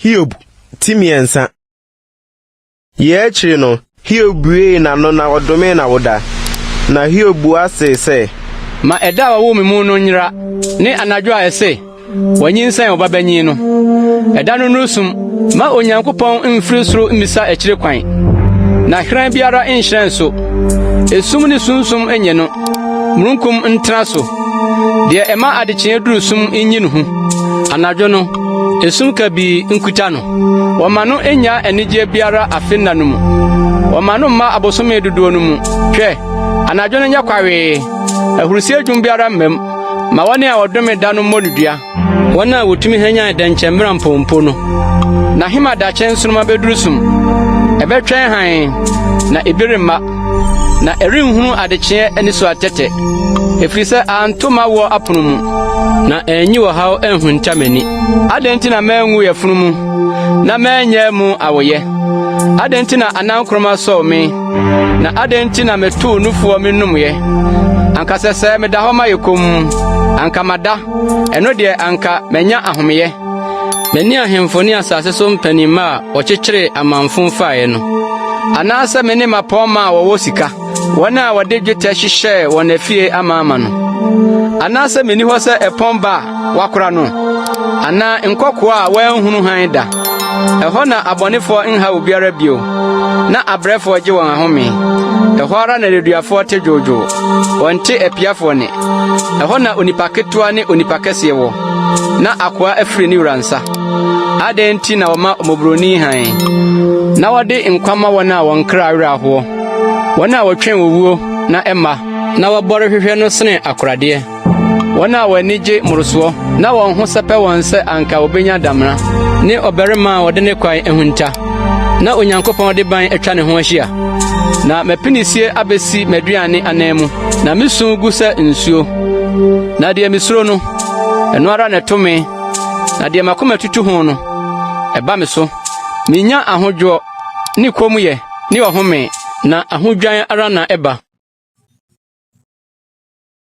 Hiob ti mmiɛnsa. Yɛ akyiri no, Hiob buee n'ano na ɔdomee n'awoda. Na Hiob bua see sɛ. Ma ɛda a wɔwoo me mu no nyera, ne anadwo a ɛse. Wanyinsɛn ɔbabanyin no. Ɛda no nnuru sum. Mma Onyankopɔn mmfiri soro mmisa akyire kwan, na hyerɛn biara nnhyerɛn so. Esum ne sunsum nnye no, mununkum ntena so. Deɛ ɛma adekyeɛ duru sum nnyi ne ho. Anadwo no, esum kabii nkuta no. Wɔma no nnya anigyeɛ biara afe nna no mu. Wɔma no mma abosome dodoɔ no mu. Hwɛ, anadwo no nyɛ kwawee, ahurisie dwom biara mmam. Ma wɔne a wɔdome da no mmɔ no dua. Wɔn a wotumi hwanyan dɛnkyɛmmira mpompo no. Na him adakye nsoromma beduru sum. Ɛbɛtwɛn hann, na ebi remma. Na ɛrenhunu adekyeɛ ani so atɛtɛ. Ɛfiri sɛ anto m'awoɔ apono mu. Na ɛnyi ɔhaw anhunta m'ani. Adɛn nti na manwu yafunu mu, na manyɛ mu awoyɛ? Adɛn nti na anankoroma sɔw me? Na adɛn nti na metoo nufoɔ menomyɛ? Anka sɛ sɛ meda hɔ ma yɛ komm, anka mada, ɛno deɛ anka manya ahomeyɛ. Mene ahemfo ne asase so mpanimma a wɔkyekyeree amanfo faeɛ no, anaasɛ mene mmapɔmma a wɔwɔ sika, wɔn a wɔde dwetɛ hyehyɛɛ wɔn afie amaama no, anaasɛ menni hɔ sɛ ɛpɔn ba a wakora no, anaa nkɔkoaa a wɔanhunu hann da. Ɛhɔ na abɔnefoɔ nhaw obiara bio, na abrɛfoɔ gye wɔn ahome. Ɛhɔ ara na nneduafoɔ te dwoodwoo, wɔnte apiafoɔ nne. Ɛhɔ na onipa ketewa ne onipa kɛseɛ wɔ, na akoa afiri ne wura nsa. Adɛn nti na wɔma mmɔborɔni hann, na wɔde nkwa ma wɔn a wɔn kra werɛ ahoɔ, wɔn a wɔtwɛn owuo na ɛmma, na wɔbɔre hwehwɛ no sene akoradeɛ? Wɔn a wɔn ani gye mmorosoɔ na wɔn ho sɛpɛ wɔn sɛ anka wɔbɛnya damena ne ɔbarima a wɔde ne kwan ahunta na Onyankopɔn de ban atwa ne ho ahyia. Na m'apinisie abɛsi m'aduane anan mu, na me su gu sɛ nsuo. Na deɛ mesuro no, ɛno ara na ɛto me, na deɛ m'akoma tutu ho no, ɛba me so. Menya ahodwoɔ ne kommyɛ ne ɔhome, na ahodwan ara na ɛba.